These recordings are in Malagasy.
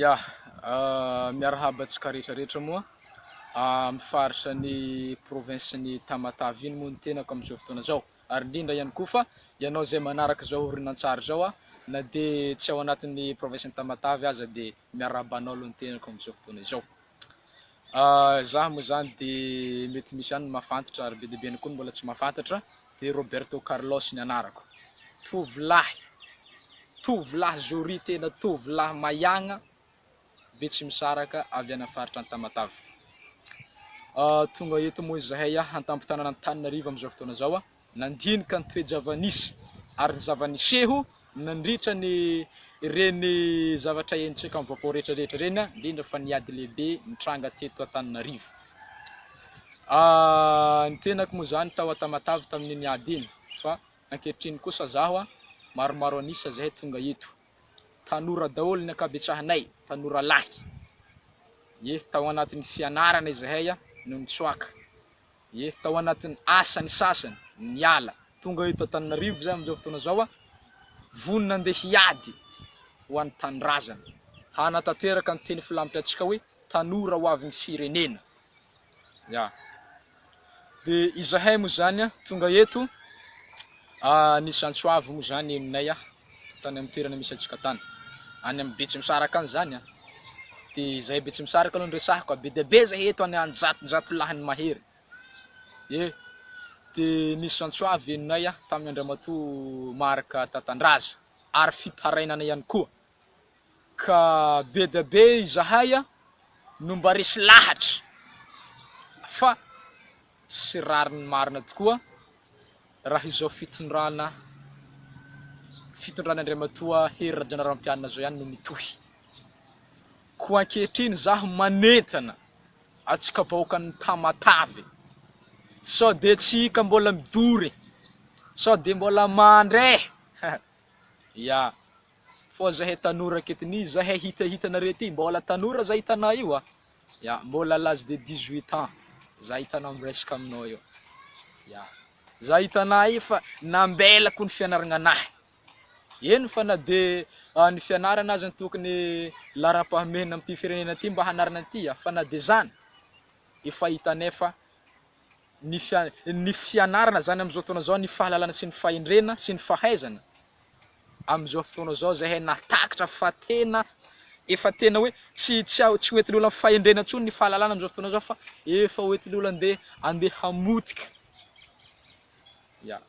Ya, miarahaba antsika rehetra rehetra moa amin'ny faritra ny province ny Tamatave iny moa ny tenako amin'izao fotoana izao ary indrindra ihany koa fa ianao izay manaraka izao horonantsary izao aho na dia tsy ao anatin'ny province ny Tamatave aza dia miarahaba anao aloha ny tenako amin'izao fotoana izao. Izaho moa izany dia mety misy ihany ny mahafantatra ary be dia be ihany koa ny mbola tsy mahafantatra dia Roberto Carlos ny anarako. Tovolahy, tovolahy zoria tena tovolahy maiagna betsimisaraka avy any amin'ny faritra Antamatave. Tonga eto moa izahay an-tampon-tanànan'Antananarivo amin'izao fotoana izao, nandinika ny toe-java-nisy ary ny zava-niseho Nandritra ny ireny zavatra henontsika amin'ny vaovao rehetra rehetra ireny, indrindra fa ny ady lehibe nitranga teto Antananarivo. Ny tenako moa izany tao Antamatave tamin'iny ady iny, fa ankehitriny kosa zaho maromaro an'isa izay tonga eto. Tanora daholo ny ankabetsahanay, tanora lahy. Ye, tao anatin'ny fianarana izahay no nitsoaka. Ie, tao anatin'ny asany sasany, niala. Tonga eto Antananarivo zay amin'izao fotoana izao, vonona andeha hiady ho an'ny tanindrazana, hanatanteraka ny teny filampiantsika hoe tanora ho avin'ny firenena. Ya. De izahay moa zany tonga eto, ny zantsoavo moa zany henonay tany amin'ny toerana misy antsika tany. Any amin'ny Betsimisaraka any izany an. Dia izay Betsimisaraka aloha no resahako ka, be dia be izay eto any an, jatonjato lahy ny mahery. E, dia nisy zantsoa avy henonay an, tamin'ny Andriamatoa Marc Tatandraza, ary fitarainana ihany koa. Ka be dia be izahay an, no mba resy lahatra, fa sy rariny marina tokoa raha izao fitondrana fitondran' Andriamatoa Hery Rajaonarimampianina izao ihany no mitohy. Koa ankehitriny izaho manentana antsika vahoakan' ny Tamatave sao dia tsy hika mbola midory sao dia mbola mandre! ya. Fa zahay tanora aketo ny zahay hita hitanareo ity mbola tanora za hitanao io a! ya mbola à l'age de dix huit ans za hitanao miresaka aminao io ya za hitanao io fa nambelako ny fianaragna anahy eny fa na de ny fianarana aza ny tokony laharam-pahamehana amin'ity firenena ity mba hanarana ity a! fa na de zany efa hitanay fa ny fianarana izany amin'izao fotoana izao, ny fahalalana sy ny fahendrena sy ny fahaizana amin'izao fotoana izao izay hay nahatakatra fa tena efa tena hoe tsy tsy a- tsy hoentin'ny olona amin'ny fahendrena intsony ny fahalalana amin'izao fotoana izao fa efa hoentin'ny olona andeha andeha hamotika ya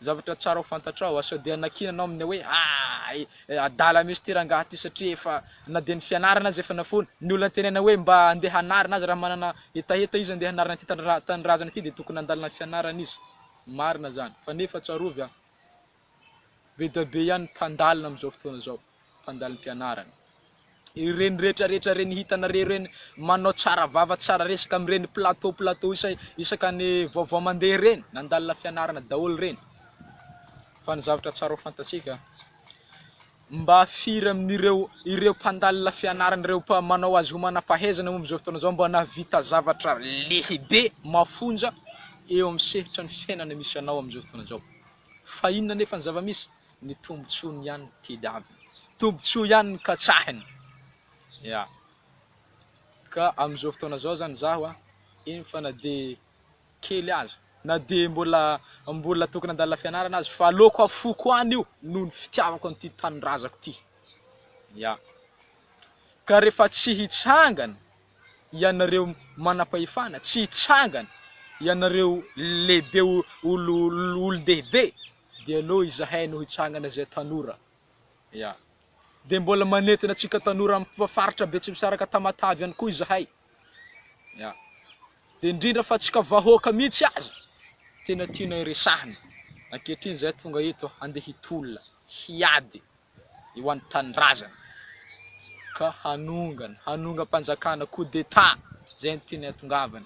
Zavatra tsara ho fantatrao, sao dia nakiana anao amin'ny hoe aay, adala mihitsy ity rangahy ity satria efa na dia ny fianarana aza efa nafoiny, ny olona tenenina hoe mba andeha hanarina aza raha manana hetaheta izy andeha hanarina ity tanindrazana ity dia tokony handalo ny fianarana izy, marina izany fa nefa tsarovy an, be dia be ihany ny mpandalina amin'izao fotoana izao. fandalim-pianarana. Ireny rehetra rehetra ireny hitanareo ireny manao tsara vava tsara resaka amin'ireny plateau plateau isa- isaka ny vaovao mandeha ireny nandalina fianarana daholo ireny fa ny zavatra tsara ho fantatsika mba firy amin'ireo ireo mpandalina fianarana ireo mpa manao azy ho manam-pahaizana momba izao fotoana izao mba nahavita zavatra lehibe mafonja eo amin'ny sehitra ny fiainana misy anao amin'izao fotoana izao fa inona nefa ny zava-misy ny tombotsoany ihany ny tediaviny, tombotsoa ihany ny katsahiny, ya, ka amin'izao fotoana izao zany zaho an, eny fa na de kely aza, na de mbola mbola tokony handalina fianarana aza fa aleoko afoko any io noho ny fitiavako an'ity tanindrazako ity, ya, ka rehefa tsy hitsangana ianareo manam-pahefana, tsy hitsangana ianareo lehibe, olo, olon-dehibe, dia noho izahay no hitsangana izay tanora ya dia mbola manentana antsika tanora amin'ny faritra Betsimisaraka Tamatave ihany koa izahay ya dia indrindra fa antsika vahoaka mihitsy aza tena tianay resahina ankehitriny izay tonga eto handeha hitolona hiady eo an'ny tanindrazana ka hanongana hanongam-panjakana coup d'état izay ny tianay atongavana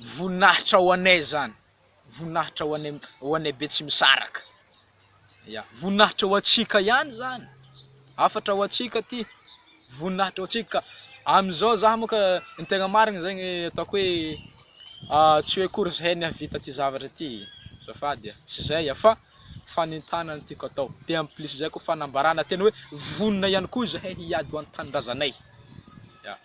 voninahitra ho anay izany, voninahitra ho anay ho anay Betsimisaraka, ya, voninahitra ho antsika ihany izany, hafatra ho antsika ity, voninahitra ho antsika, amin'izao za moa ka ny tegna marigny zegny ataoko hoe ah, tsy hoe akory zahay ny hahavita ty zavatra ty e, azafady ah, tsy zay ah, fa fanentanana no tiako atao, de en plus zay koa fanambarana tena hoe vonona ihany koa zahay hiady ho an-tanindrazanay, ya.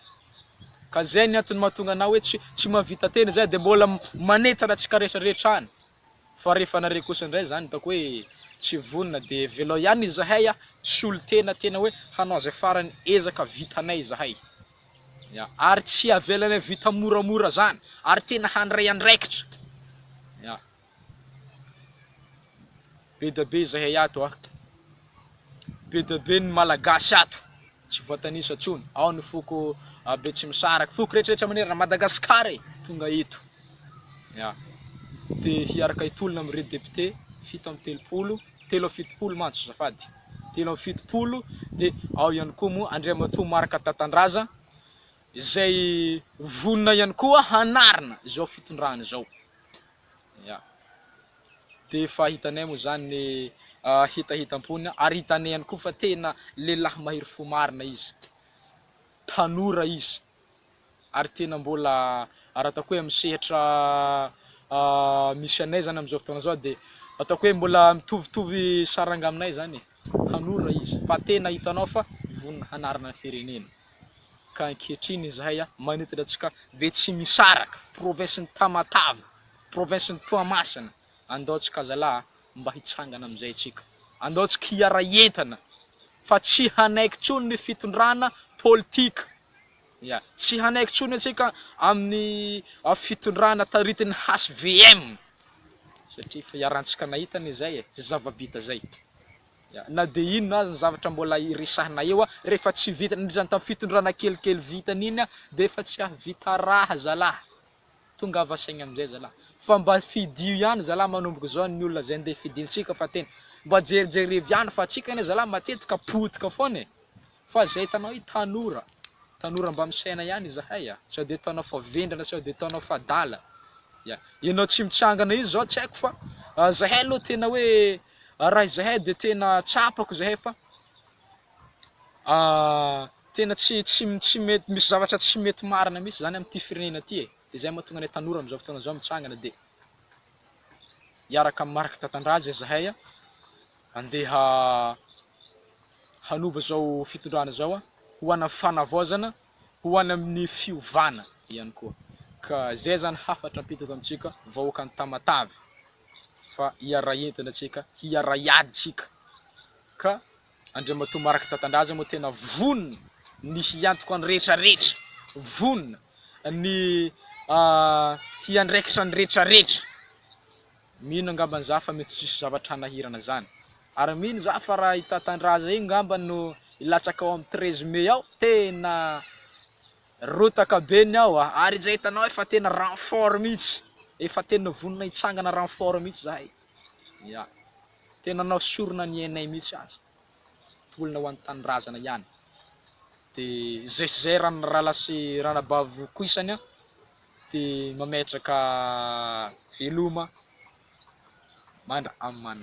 Ka zay ny antony mahatonga anao hoe tsy tsy mahavita tena zay de mbola manentana tsika retraretra any fa rehefa anareo kosa ndray zany hitako hoe tsy vonona de velao ihany izahay a solontena tena hoe hanao zay farany ezaka vitanay izahay ya ary tsy avelanay vita moramora zany ary tena handray andraikitra ya. Be dia be izahay ato a! Be dia be ny Malagasy ato, tsy voatanisa intsony, ao ny foko Betsimisaraka, foko rehetrarehetra manerana an'i Madagasikara e! Tonga eto, ya! Dia hiaraka hitolona amin'ireo depiote fito amby telopolo, telo amby fitopolo mantsy azafady, telo amby fitopolo, dia ao ihany koa moa Andriamatoa Marc Tatandraza izay vonona ihany koa hanarina izao fitondrana izao. Ya. Dia efa hitanay moa izany ny hetahetam-pony ary hitanay ihany koa fa tena lehilahy mahery fo marina izy. Tanora izy ary tena mbola raha ataoko hoe amin'ny sehatra misy anay izany amin'izao fotoana izao dia ataoko hoe mbola mitovitovy saranga aminay izany e. Tanora izy fa tena hitanao fa vonona hanarina ny firenena. ka ankehitriny izahay manentana antsika Betsimisaraka, provinsin'i Tamatave, provinsin'i Toamasina, andao antsika zalahy mba hitsangana amin'izay antsika, andao antsika hiara-hientana fa tsy hanaiky intsony ny fitondrana politika, ya, tsy hanaiky intsony antsika amin'ny fitondrana taritin'ny HVM satria efa iharantsika nahita an'izay e, zay zava-bita zay. Na dia inona aza ny zavatra mbola iresahana eo rehefa tsy vita nandritra ny tamin'ny fitondrana kelikely vitany iny dia efa tsy hahavita raha zalahy. Tongava saina amin'izay zalahy. Fa mba fidio ihany zalahy manomboka izao ny olona izay ndeha fidintsika fa tena mba jerijerevy ihany fa antsika anie zalahy matetika potika foana e. Fa izay hitanao hoe tanora, tanora mba misaina ihany izahay a! Sao dia ataonao fa vendrana sao dia ataonao fa adala. Ya, ianao tsy mitsangana io izao tsy haiko fa izahay aloha tena hoe raha izahay dia tena tsapako izahay fa tena tsy tsy tsy mety misy zavatra tsy mety marina mihitsy izany amin'ity firenena ity e! Dia izay mahatonga anay tanora amin'izao fotoana izao mitsangana dia hiaraka amin'ny Marc Tatandraza izahay a! handeha hanova izao fitondrana izao ho any amin'ny fanavaozana, ho any amin'ny fiovana ihany koa. Ka izay izany hafatra apetaka amintsika vahoakan'i Tamatave fa hiaray entana tsika, hiaray ady tsika. Ka Andriamatoa Marc Tatandraza moa tena vonona ny hiantoka ny rehetra rehetra, vonona ny hiandraikitra ny rehetra rehetra. Mino angambany za fa mety tsisy zavatra hanahirana zany. Ary mino za fa ra i Tatandraza io ngamba no hilatsaka ao am treize mai ao tena rotaka be ny ao a! Ary izay hitanao efa tena renfort mihitsy, efa tena vonona hitsangana renfort mihitsy zahay, ya! Tena anao sorona ny ainay mihitsy aza. tolona ho an'ny tanindrazana ihany de zay sy zay raha ny rala sy ranabavy koisany a de mametraka veloma mandra amana.